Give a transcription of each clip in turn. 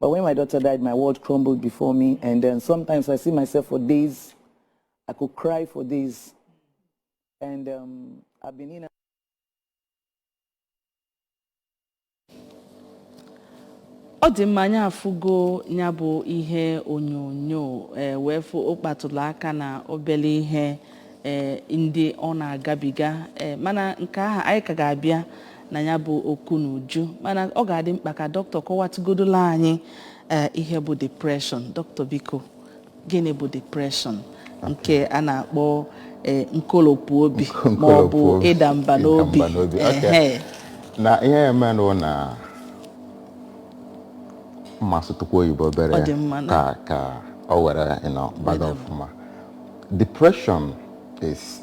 But when my daughter died, my world crumbled before me. And then sometimes I see myself for days. I could cry for days. And um, I've been in. ọ dị mma anyị afụgo nya bụ ihe onyonyo ee wee fụ ọ kpatụlụ aka na obele ihe ee ndị ọ na-agabiga ee mana nke ahụ anyị ka ga-abịa na ya bụ okwu n'uju mana ọ ga-adị mkpa ka doctor kọwatụgodola anyị ee, ihe bụ depression doctor biko gịnị bụ depression nke a na-akpọ ee, nkolopụ obi ma ọ bụ Nkolopụ- ịda mba n'obi ịda mba n'obi, okay. Ehe. na ihe ya emenụ na m ma-asụtụkwu oyibo Ọ obere dị mma na- ka ka o were you know, baga ọfụma depression is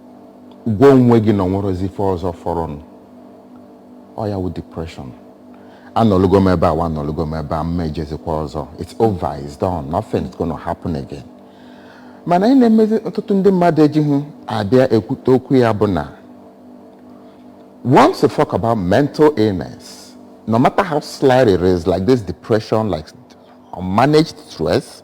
gwa onwe gị na onwerozi ife ọzọ fọrọnụ ọ ya wụ depression anọlugo m ebe anwa anọlugo m ebe a m ma-ejezikwa ọzọ it's over it's done nothing is gonna happen again mana ihe na-emezi ọtụtụ ndị mmadụ ejighị abịa ekwute okwu ya bụ na once you talk about mental illness no matter how slight it is like this depression like unmanaged stress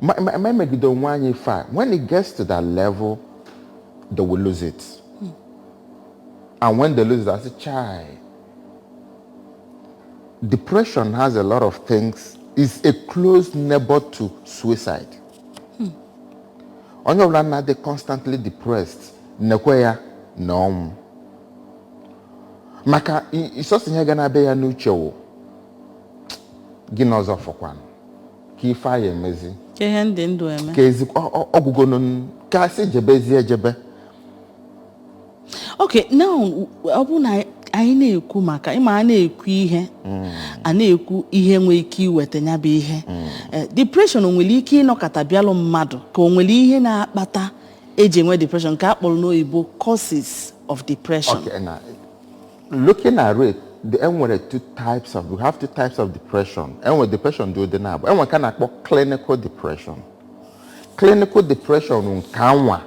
Ma ma- ma emegide onwe anyị ife a, when it gets to that level, they will lose it. And when they lose it, asị chai. Depression has a lot of things. It's a close neighbor to suicide. Onye ọbụla na-adị constantly depressed nekwa ya na ọnwụ. Maka i- sọsọ ihe ga na-abịa ya n'uche wụ gịnị ọzọ fọkwanụ. kee ife a ya-emezi kee ihe m dị ndụ eme ka ezi ọ- ọ- ọ gwụgonu n- ka asị jebezi ejebe okay now ọ bụrụ na anyị na-ekwu maka ị ma a na-ekwu ihe a na-ekwu ihe nwere ike iweta nya bụ ihe Eh, depression o nwere ike ịnọkata bịalụ mmadụ ka o nwere ihe na-akpata eji enwe depression nke a kpọrọ n'oyibo causes of depression Okay, now Looking at it, the enwere two types of we have two types of depression. Enwere depression dị ụdị naabọ. Enwere nke a na-akpọ clinical depression. Clinical depression nke anwa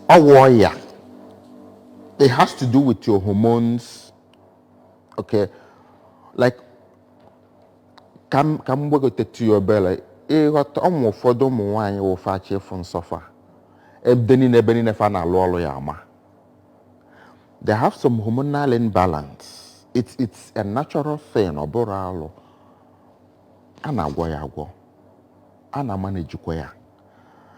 ọ wụ ọya. It has to do with your hormones. Okay. Like ka m ka m gbagotetu ya obele ị ghọta ụmụ ụfọdụ ụmụ nwaanyị wụ fa chọ ịfụ nsọ fa ebe niine ebe niine fa na-alụ ọlụ ya-ama they have some hormonal imbalance it's it's a natural thing ọ bụrọ alụ a na-agwọ ya agwọ a na-amanejikwa ya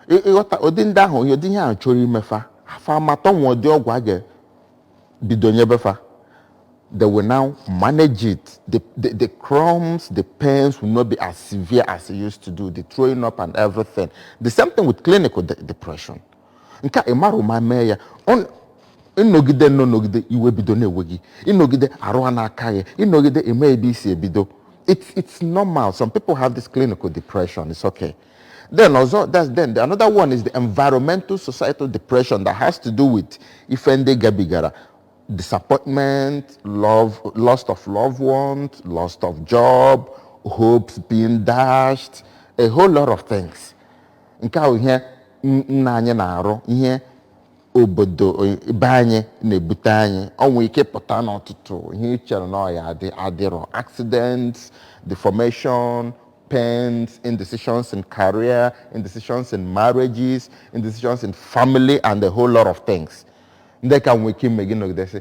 Ị- ịghọta ụdị ndị ahụ ụdị ihe ahụ chọrọ ime fa fa amata nwa ụdị ọgwụ a ga-ebido nyebe fa they will now manage it. The, the, the cramps, the pains will not be as severe as it used to do, the throwing up and everything. The same thing with clinical de- depression. nke a ị marọ ụma mee ya Ọ- ị nọgide nnọọ nọgide iwe bido na-ewe gị ị nọgide arụ a na-aka gị ị nọgide eme ebe isi ebido it's it's normal some people have this clinical depression it's okay then ọzọ that's then the, another one is the environmental societal depression that has to do with ife ndị gabigara disappointment love loss of loved ones loss of job hopes being dashed a whole lot of things nke ahụ ihe n- nna anyị na-arụ ihe obodo o- be anyị na-ebute anyị o nwe ike ịpụta n'ọtụtụ ihe ị chere na ọ ya-adị adịrọ accidents deformation pains indecisions in career indecisions in marriages indecisions in family and a whole lot of things ndị ka nwee ike ime gị nọgidesị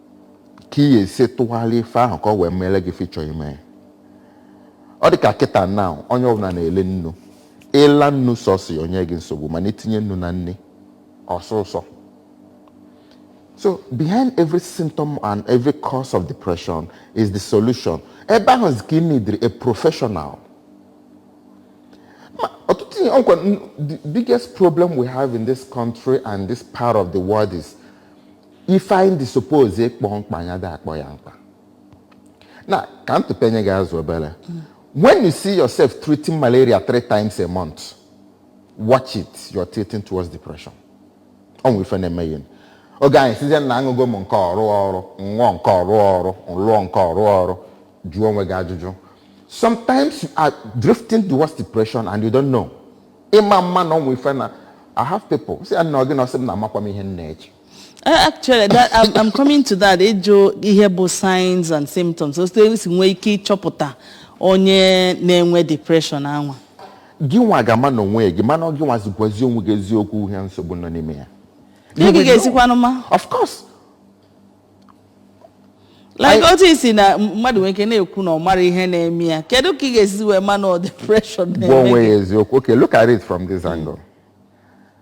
ka ị ya-esi tụgharịa ife ahụ ka ọ wee meere gị ife ị chọ ime ọ dị ka kịta now onye ọbụla na-eli nnu ị laa nnu sọsị o nye gị nsogbu mana i tinye nnu na nni ọ sọọ ụsọ so behind every symptom and every cause of depression is the solution ebe ahụ ka ị nidiri a professional ọtụtụ ihe ọkwa the biggest problem we have in this country and this part of the world is ife anyị suppose ịkpọ mkpa anyị adị akpọ ya mkpa na ka m tụpenye gị azụ obere when you see yourself treating malaria three times a month watch it you're tilting towards depression ọ nwere ife na-eme ya oge onye sịzie na aṅụgo m nke ọ rụrọ ọrụ m ṅụọ nke ọ rụrọ ọrụ m ṅụọ nke ọ rụrọ ọrụ jụọ onwe gị ajụjụ sometimes you are drifting towards depression and you don't know ị ma-ama na o nwe ife na i have people si ya na ọ gị na ọ sị m na amakwa m ihe m na-eche Eh, actually that, I'm, I'm coming to that ịjụ ihe bụ signs and symptoms otu e si nwee ike ịchọpụta onye na-enwe depression anwa gị nwa ga-ama na onwe gị mana ọ gị nwa zigwazi onwe gị eziokwu ihe nsogbu nọ n'ime ya Ihe You gị will know. ga-esikwanụ ma of course like Anyị- otu i si na mmadụ nwere ike na-ekwu na ọ mara ihe na-eme ya kedu ka ị ga-esi wee ma na ọ depression gwa na-eme onwe gị? ya eziokwu okay look at it from this angle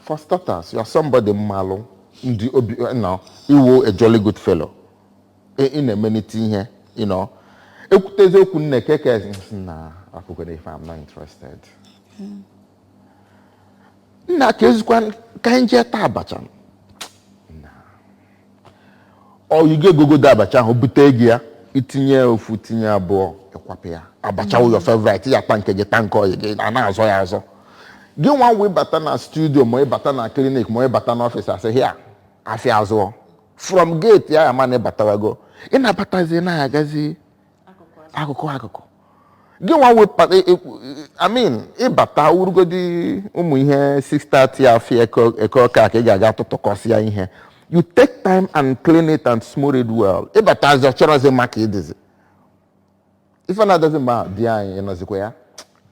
For starters, you are somebody m malụ ndị obi you know, ị wụ a jolly good fellow ị na-emenite ihe you know. e kwutezie okwu nne keke nsị na akwụkwere ife I'm not interested nna ka ezikwa ka anyị jee taa abacha ọyị gị gogodo abacha ahụ bute gị ya i tinye ofu tinye abụọ ị kwapụ ya abacha wụ your favorite ya ta nke gị ta nke ọyị gị a na-azọ ya azọ gị nwa wụ ị bata na studio ma ị bata na clinic ma ị bata na office a sị hei afịa azụọ from gate a ya-ama na ị batawago ị na-abatazi na-agazi akụkụ akụkụ gị nwa wụ e, e, I mean ị bata ọ wụrụgodi ụmụ ihe 6:30 afọ eke ọka ka ị ga-aga tụtụkọsịa ihe you take time and clean it and smooth it well ị batazị ị chọrọzi maka ịdịzi ife na-adazi mgbe ahụ di anyị ị nọzikwa ya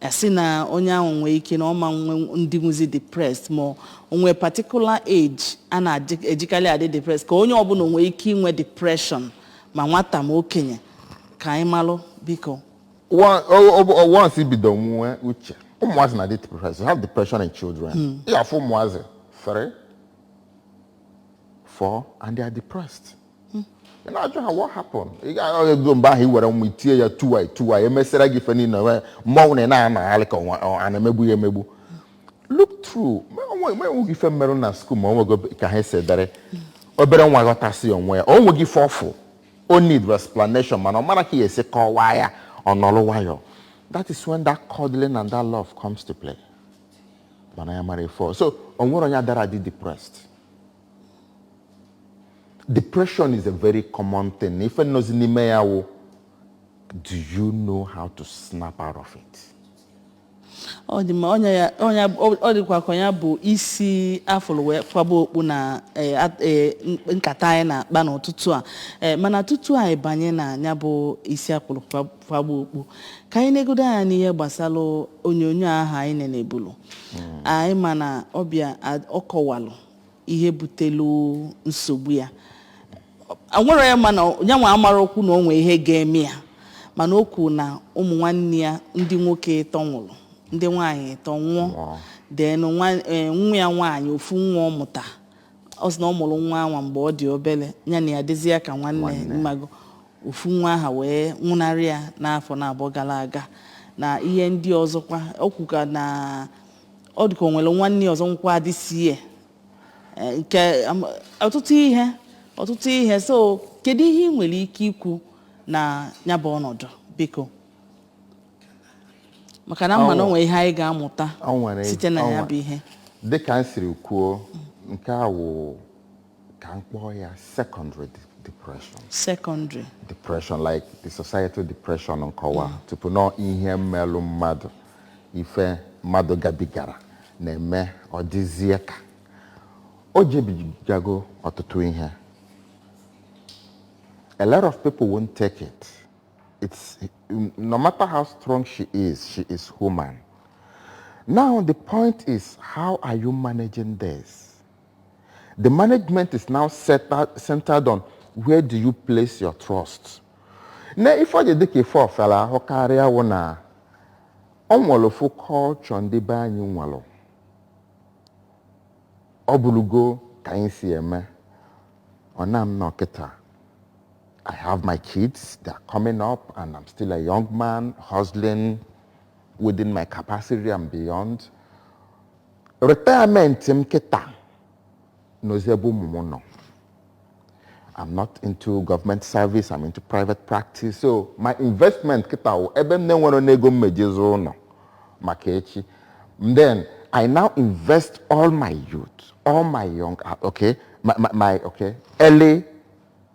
a sị na onye ahụ nwee ike na ọ ma nwe ndị nwezi depressed ma o nwee particular age a na-ejikarị adị depressed ka onye ọbụla nwee ike inwe depression ma nwata ma okenye ka anyị malụ biko One- o- o- o- once i bido nwee uche ụmụazị na-adị depressed you have depression in children ị afụ ụmụazị three four and they are depressed ị na-ajụ ha what happened ị ga-ahụ ego mgbe ahụ i were nwa i tie ya tuwa tuwa emesịra gị ife niile wee mmọnwụ na ị na-anagharị ka ọnwa- ọ- a na-emegbu ya emegbu look through ma onwe- ma e nwee ife merụ na school ma o nwego ka ha si dere obere nwa ghọtasị ya onwe ya o nweghị ife ọfụ o need explanation mana ọ marọ ka ọ ya-esi kọwaa ya ọ nọrọ nwayọ that is when that cuddling and that love comes to play mana ya mara ife ọ- so o nwere onye adara adị depressed depression is a very common thing ife nọzi n'ime ya wụ do you know how to snap out of it ọ dị mma onye ya onye ọ ọ dịkwa ka ya bụ isi afụrụ wee kwaba okpu na eh, at- eh, n- nkata anyị na-akpa n'ụtụtụ a Eh, mana tutu anyị banye na ya bụ isi afụrụ kwa- kwaba okpu ka anyị negodo anya n'ihe gbasara onyonyo aha anyị nenebulu anyị ma na ọbịa a- ọ kọwalụ ihe butelu nsogbu ya a nwere ya mana ya nwa amarọkwu na o nwee ihe ga-eme ya mana o kwuru na ụmụ nwanne ya ndị nwoke ịtọ nwụrụ ndị nwaanyị ịtọ nwụọ Nwụọ. then nwa- eh, nwa ya nwaanyị ofu nwa ọ mụta ọ sị na ọ mụrụ nwa anwa mgbe ọ dị obere ya na ya dịzi ya ka nwanne Nwanne. ị mago ofu nwa aha wee nwụnarị ya n'afọ naabọ gara aga na ihe ndị ọzọkwa o kwukwa na ọ dịka o nwere nwanne ọzọ nwụkwa this year, nke am- ọtụtụ ihe ọtụtụ ihe so kedu ihe ị nwere ike ikwu na ya bụ ọnọdụ biko maka na m ma na o nwere ihe anyị ga-amụta site na ya bụ ihe dịka m siri kwuo nke a wụ ka m kpọọ ya secondary depression secondary depression like the societal depression nkọwa mm. tupu na ihe melụ mmadụ ife mmadụ gabigara na-eme ọ dịzie ka o jebigago ọtụtụ ihe a lot of people won't take it it's no matter how strong she is she is human now the point is how are you managing this The management is now centered on where do you place your trust. na ife o ji dịka ife ọ fịara ahụ karịa wụ na ọ nwere ofu culture ndị be anyị nwere ọ bụrụgo ka anyị si eme ọ na m nọ kịta I have my kids, they are coming up, and I'm still a young man hustling within my capacity and beyond. Retirement m kịta nọzi ebe ụmụ m nọ. I'm not into government service, I'm into private practice. So my investment kịta wụ ebe m na-enwere n'ego m meji zụọ ụlọ maka echi. Then I now invest all my youth, all my young, ah, okay, my, my, my okay, early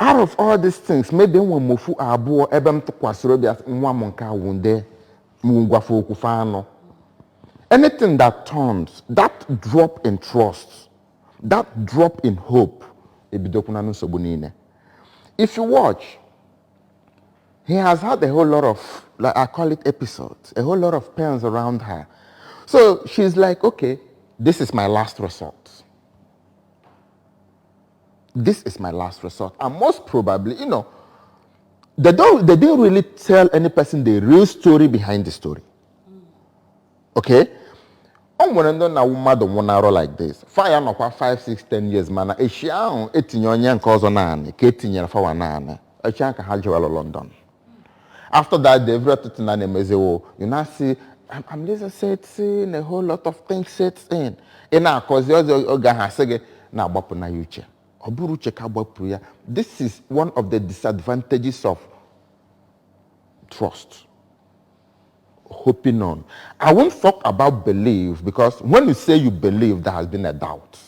out of all these things maybe enwe m ofu abụọ ebe m tụkwasịrị obi a sị, nwa m nke a wụ nde m gwa fa okwu fa anụ anything that turns that drop in trust that drop in hope ebidokwana na nsogbu niile if you watch he has had a whole lot of like i call it episodes a whole lot of pains around her so she's like okay this is my last resort this is my last resort. And most probably, you know, they don't they didn't really tell any person the real story behind the story. Okay? o nwere ndị na mmadụ nwụnarụ like this fa ya-anọkwa 5 6 10 years mana echi ahụ e tinye onye nke ọzọ n'anị ka e tinyere fawa n'anị echi ahụ ka ha jewalụ London After that, every other thing na-emezi o, you now see, am- amnesia setting, a whole lot of things sets in. Ị na-akọzi ọzọ oge ahụ a sị gị na-agbapụ na ya uche. Ọ bụrụ uche ka agbapụ ya. This is one of the disadvantages of trust. Hoping on. I won't talk about belief because when you say you believe, there has been a doubt.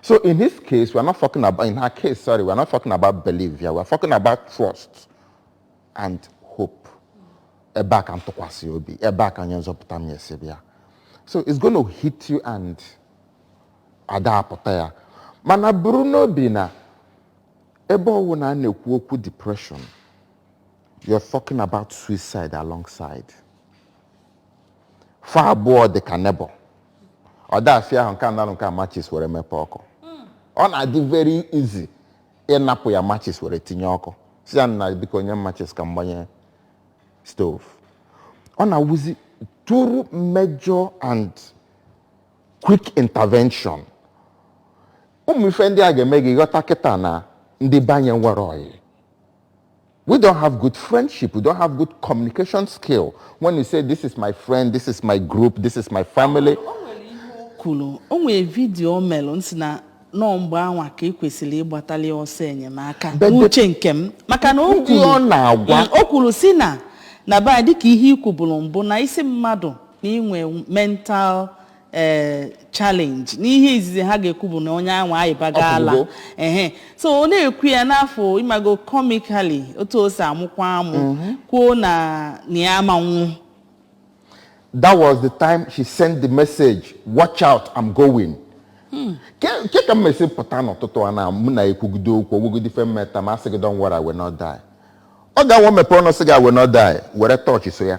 So in his case, we're not talking about, in her case, sorry, we're not talking about belief here. We're talking about trust and hope. Ebe a ka m tụkwasị obi, ebe a ka onye nzọpụta m ya-esi bịa. So it's going to hit you and ada apụta ya. Mana buru n'obi na ebe ọ wụna a na-ekwu okwu depression, you're talking about suicide alongside. fa abụọ dị ka neighbour ọ da-afịa ahụ nke a anarụ nke a matches were mepe ọkụ ọ na-adị very easy ịnapụ ya matches were tinye ọkụ sị ya na biko nye m matches ka m gbanye stove ọ na-awụzi through major and quick intervention ụmụ ife ndị a ga-eme gị ghọta kịta na ndị banye nwere oyi We don't have good friendship. We don't have good communication skill. When you say, this is my friend, this is my group, this is my family. kwuru o nwere video o melụ m sị na ọọ mgbe anwa ka e kwesịrị ịgbatali ọsọ enyemaka But the- n'uche nke m maka na o Ndị kwuru- ọ na-agwa. Mm, o kwuru sị na na be anyị dịka ihe i kwuburu mbụ na ị sị mmadụ na i nwe mental ee challenge n'ihe izizi ha ga-ekwu bụ na onye anwa ayịbago ala pụgo. ehe so ọ na-ekwu ya n'afọ ị mago comically otu o si amụkwa amụ kwuo na na ya ama anwụ that was the time she sent the message watch out i'm going ke ke ka m esi pụta n'ụtụtụ a na mụ na ị kwugide okwu ọ wụgodi ife meta m asị gị don't worry I will not die ọ ga-awụ m mepee ọnụ sị gị I will not die were touch so ya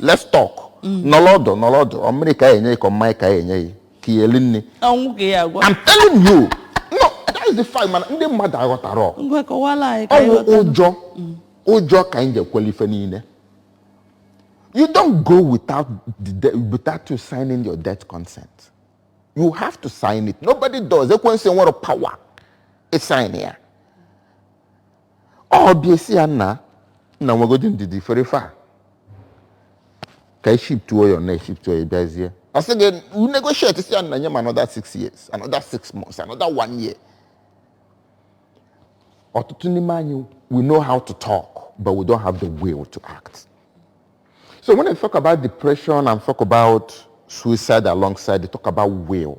let's talk mm. nọrọ ọdụ nọrọ ọdụ ọ mmiri ka a ya-enye gị ka mmanya ka a ya-enye gị ka ị ya-eri nri I'm telling you no that is the fact mana ndị mmadụ aghọtaro ọ wụ ụjọ mm. ụjọ ka anyị ji ekwele ife niile you don't go without the, without you signing your death consent you have to sign it nobody does ekwensu enwero power ịsign ya ọ bịa ị sị ya nna nna nwegodi ndidi fere ife a ka e shiftuo ya na e shiftuo ya bịazie ọ sị gị you negotiate sị ya nna nye m another six years another six months another one year ọtụtụ n'ime anyị we know how to talk but we don't have the will to act so when I talk about depression and talk about suicide alongside they talk about will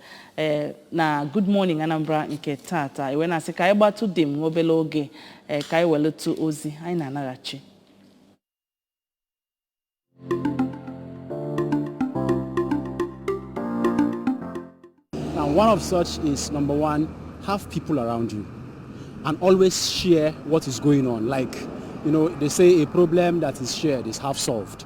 ee na Good Morning Anambra nke tata e wee na-asị ka anyị gbatụdị nwa obere oge ee ka anyị welụtụ ozi anyị na-anaghachi Now, one of such is number one, have people around you and always share what is going on. Like, you know, they say a problem that is shared is half solved.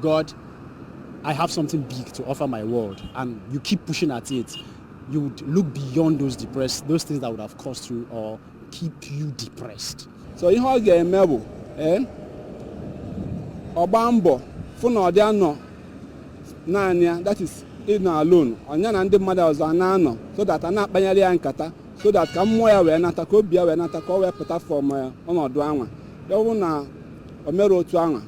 God, I have something big to offer my world, and you keep pushing at it. You would look beyond those depressed, those things that would have caused you or keep you depressed. So ihe ọ ga-eme bụ eh, ọ gbaa mbọ fụ na ọ dị anọ naanị ya that is ịnọ alone ọ nya na ndị mmadụ ọzọ ana-anọ so that a na-akpanyere ya nkata so that ka mmụọ ya wee nata ka obi ya wee nata ka ọ wee pụta from ọnọdụ anwa ya bụrụ na o mere otu anwa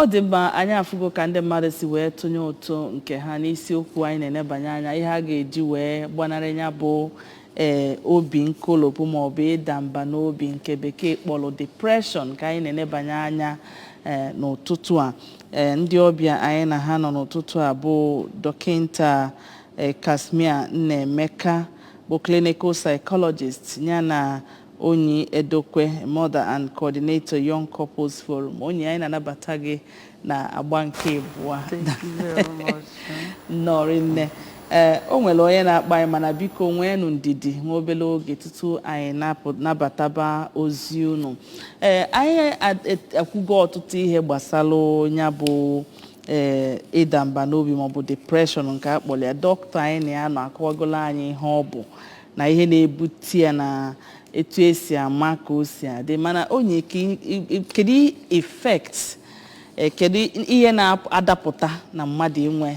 ọ dị mma anyị afụgo ka ndị mmadụ si wee tụnye ụtụ nke ha n'isiokwu anyị na-enebanye anya ihe a ga-eji wee gbanarị ya bụ ee obi nkolopụ maọbụ ịda mba n'obi nke bekee kpọrọ depression ka anyị na-enebanye anya ee n'ụtụtụ a Ee, ndị ọbịa anyị na ha nọ n'ụtụtụ a bụ dọkịnta eh, Casmir Nnaemeka bụ clinical psychologist ya na Onyi Edokwe mother and coordinator Young Couples Forum Onyi anyị na-anabata gị n'agba nke abụọ Thank you very much. nnọọrị nne Ee, o nwere onye na-akpọ anyị mana biko nweenụ ndidi nwa obere oge tutu anyị napụ- nabataba ozi unu ee anyị a- et- akwugo ọtụtụ ihe gbasara ya bụ ee ịda mba n'obi maọbụ depression nke a kpọrọ ya dọkịta anyị na ya nọ akọwagolo anyị ihe ọ bụ na ihe na-ebute ya na etu esi ama ka o si adị mana Onyi ke- i- i- i- kedu effect ee, kedu ihe na-adapụta na mmadụ inwe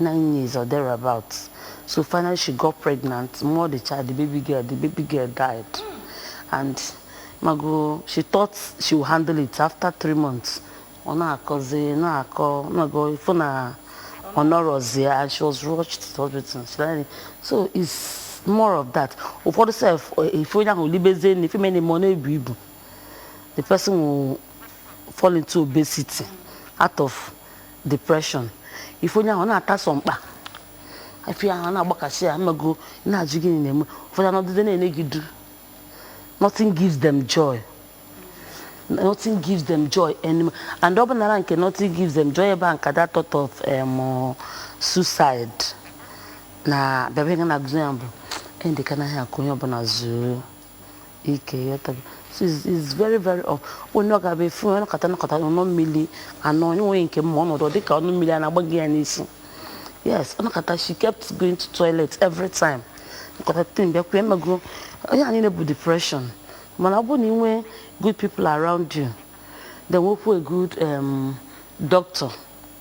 nine years or thereabout so finally she got pregnant mụọ the child the baby girl the baby girl died and ị mago she thought she would handle it after three months ọ na-akọzi na-akọ ị mago ị fụ na ọ nọrọzi ya and she was rushed to hospital she died so it's more of that ụfọdụ sef ị fụ onye ahụ libezie na ife mene ma ọ na-ebu ibu the person will fall into obesity out of depression ị fụ onye ahụ ọ na-ata sọ mkpa afia ahụ ọ na-agbakasị ya ị mago ị na-ajụ gịnị na-eme ụfọdụ anọdụde na-ene gị duu nothing gives them joy nothing gives them joy anymore and ọ bụ nara nke nothing gives them joy ebe a ka that thought of um, suicide na-abịa ihe na-agụzi ya bụ ọ dị ka m naa ka onye ọbụla zuo ike ị ghọtago so it's, it's very very off onye ọ ga-abụ ị fụ ọ nọkata nọkata ọ ṅụọ mmiri and o nwere nke m ma ọ nọdụ ọ dịka ọnụ mmiri a na-agba ya n'isi yes ọ nọkata she kept going to toilet every time nọkata tibe mkpu ị mago ihe niine a bụ depression mana ọ bụrụ na ị nwee good people around you then nwekwa a good um, doctor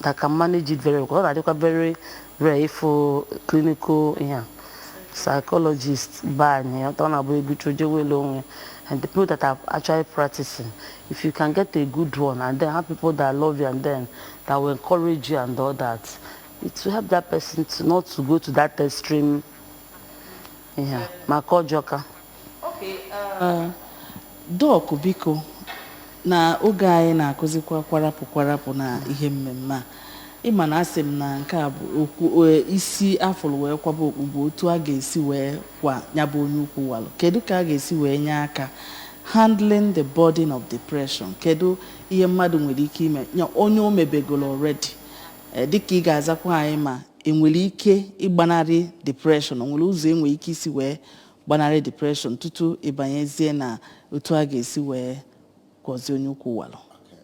that can manage it very well ọ na-adịkwa very rare ịfụ clinical ihe a psychologist baa anyị ọ na-abụ ego chụọ jewe ele onwe and the people that are actually practicing if you can get a good one and then have people that love you and then that will encourage you and all that it will help that person to not to go to that extreme ihe a maka ọjọka Okay, uh, Doc biko na oge anyị na-akụzikwa kwarapụ kwarapụ na ihe mmemme a ị ma na asị m na nke a bụ okwu e, isi a fụlụ wee kwaba okpu bụ otu a ga-esi wee kwọ nya bụ onye ukwu walụ kedu ka a ga-esi wee nye aka handling the burden of depression kedu ihe mmadụ nwere ike ime onye o mebegolo already Eh, dịka ị ga-azakwa anyị ma enwere ike ịgbanarị depression o nwere ụzọ enwere ike isi wee Gbanarị depression tutu ị banyezie na otu a ga-esi wee kwọzie onye ukwu walụ.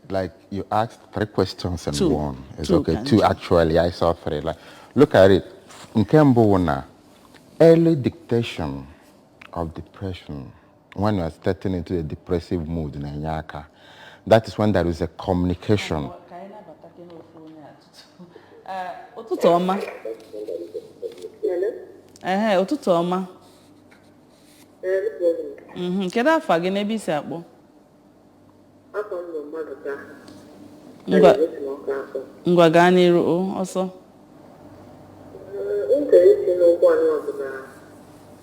Like you asked three questions in one. It's okay. Two actually. I saw three. Like, look at it. Nke mbụ wụ na early detection of depression when you are starting into a depressive mood na-enye aka. That is when there is a communication. Eh, ụtụtụ ọma ehe ụtụtụ ọma Mhm, kedu afa gị na ebe i si akpọ afa m bụ Mmadụka ngwa esi m Ọka akpọ ngwa gaa n'iru o, ọsọ m chọrọ isi n'ụkwụ anyị ọbụla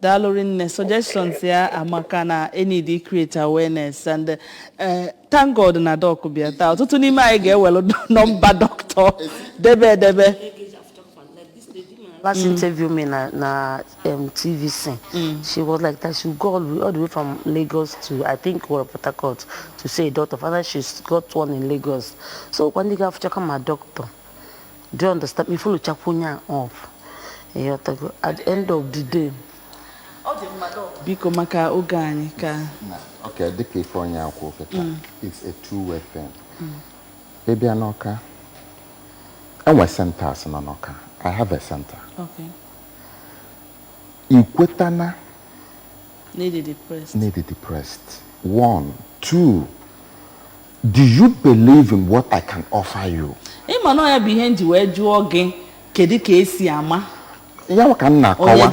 Daalụ rinne. Suggestions ya amaka na e need to create awareness and uh, thank God na doc bịa taa. Ọtụtụ n'ime anyị ga-ewere nọmba dọkịta debe edebe. Last interview me na, na um, TVC, she was like that she go all the, way- all the way from Lagos to I think well, Port Harcourt to see a doctor. Finally, she's got one in Lagos. So when they go after come my doctor, Do you understand? I follow chakwu onye a up, ịghọtago at the end of the day. Biko maka oge anyị ka. Okay, dịka ife onye a kwu kịta, mm. it's a two-way thing. Mm. Ị bịa n'Ọka, e nwe centers nọ n'Ọka. I have a center. Okay. I kweta na, na ị dị depressed. One, two. Do you believe in what I can offer you? Ị ma na ya bụ ihe m ji wee jụọ gị kedu ka esi ama ya ka m na-akọwa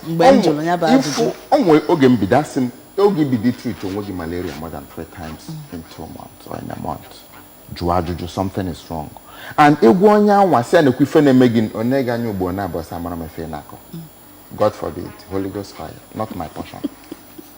mgbe m jụrụ ya bụ ajụjụ o nwee oge m bido asị m oge i bido treat onwe gị malaria more than three times in two months or in a month jụọ ajụjụ something is wrong and ị gwa onye anwa sị ya nekwa ife na-eme gị o nee gị anya ugbo naabụọ sị amarọ m ife ị na-akọ God forbid Holy Ghost fire not my portion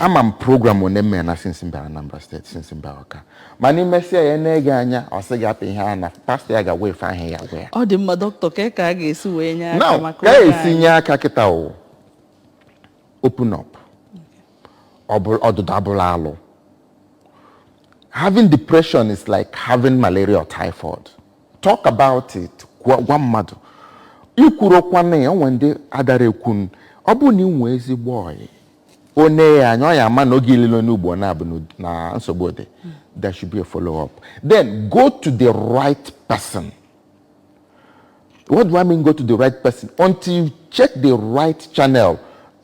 ama m program one m mere na since m bara Anambra State since m bara Ọka mana i mesịa ya nee gị anya ọ sị gị apụ ihe a na pastor ya ga-agwa ife ahụ ya gwa ya ọ dị mma dọkịta kee ka a ga-esi wee nye aka now maka oge anyị. ka esi nye aka kịta o open up ọ bụrọ ọdịda abụrọ alụ having depression is like having malaria or typhoid talk about it gwa gwa mmadụ i kwurukwa na o nwe ndị adara ekwu n'ọ bụrụ na ị nwee ezigbo ọyị o nee ya anya ọ ya-ama na oge i lele onye ugbo naabụọ n'ud- na nsogbu dị there should be a follow up then go to the right person what do I mean go to the right person until you check the right channel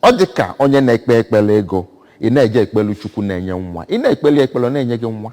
ọ dị ka onye na-ekpe ekpele ego ị na-eje ekpelu Chukwu na-enye nwa ị na-ekpeli ekpele ọ na-enye gị nwa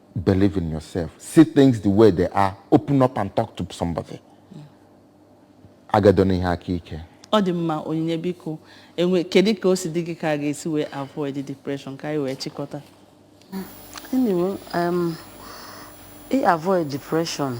Believe in yourself. See things the way they are. Open up and talk to somebody. Agadona ihe aka ike. Ọ dị mma Onyinye biko enwe kedu ka o si dị gị ka a ga-esi wee avoid depression ka anyị wee chịkọta. Anyway, um, i avoid depression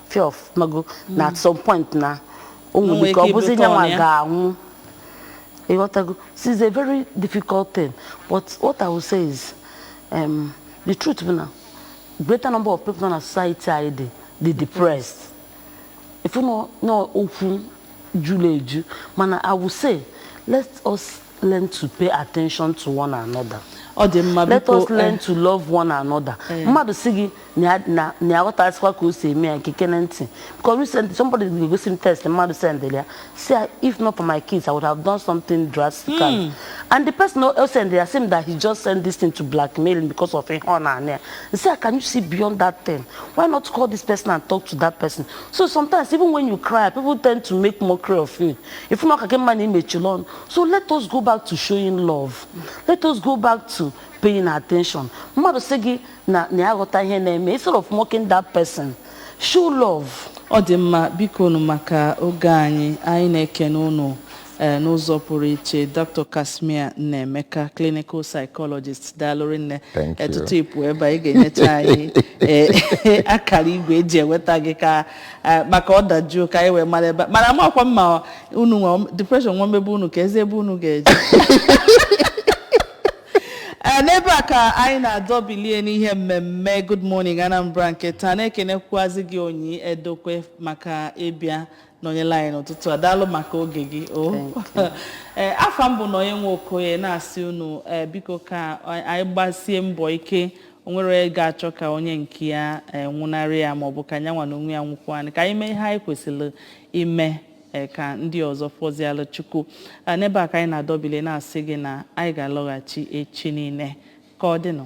if ọ mago na at some point na o nwere nwere ike ọ ike bụzi ịbụ nyanwa turn ya ga-anwụ ịghọtago this is a very difficult thing but what i will say is um, the truth bụ na greater number of people nọ na society anyị dị dị depressed ị fụ na na okwu juru eju mana i will say let us learn to pay attention to one another. ọ dị mma let biko us learn eh, to love one another Eh. mmadụ sị gị na ya- na na ya aghọtazịkwa ka o si eme ya gekene ntị because recently somebody gosi m text mmadụ sendịrị ya sị ya if not for my kids i would have done something drastically and the person o sendịrị ya sị m that he just sent this thing to blackmail him because of ihe ọ na-ana ya sị ya can you see beyond that thing why not call this person and talk to that person so sometimes even when you cry people tend to make mockery of you ị fụ na ọ ka gị mma na i mechiri ọnụ so let us go back to showing love let us go back to paying attention mmadụ sị gị na na ya aghọta ihe na-eme instead of mocking that person show love ọ dị mma bikonụ maka oge anyị anyị na-ekene ụnụ ee n'ụzọ pụrụ iche Dr Casmir Nnaemeka clinical psychologist daalụ rinne Thank you. ee tutu ị pụ ebe a ị ga-enyecha anyị ee, akara igwe e ji enweta gị ka Eh, maka ọ dajuo ka anyị wee mara ebe mana amakwa m ma unu nwe depression nwa mebe unu ka e zi ebe unu ga-eje Eh, n'ebe a ka anyị na-adọbilie n'ihe mmemme Good Morning Anambra nke taa na-ekenekwuazị gị Onyi Edokwe maka ịbịa nọnyela anyị n'ụtụtụ a daalụ maka oge gị o Eh, afa m bụ Nonye Nwokoye na-asị unu eh, biko ka anyị gbasie mbọ ike o nwerọ onye ga-achọ ka onye nke ya eh, nwụnarị ya maọbụ ka nyanwa na onwe ya nwụkwanụ ka anyị mee ihe anyị kwesịrị ime eh, ka ndị ọzọ fọzialụ Chukwu Eh, n'ebe a ka anyị na-adọbili na-asị gị na anyị ga-alọghachi echi niile ka ọ dịnụ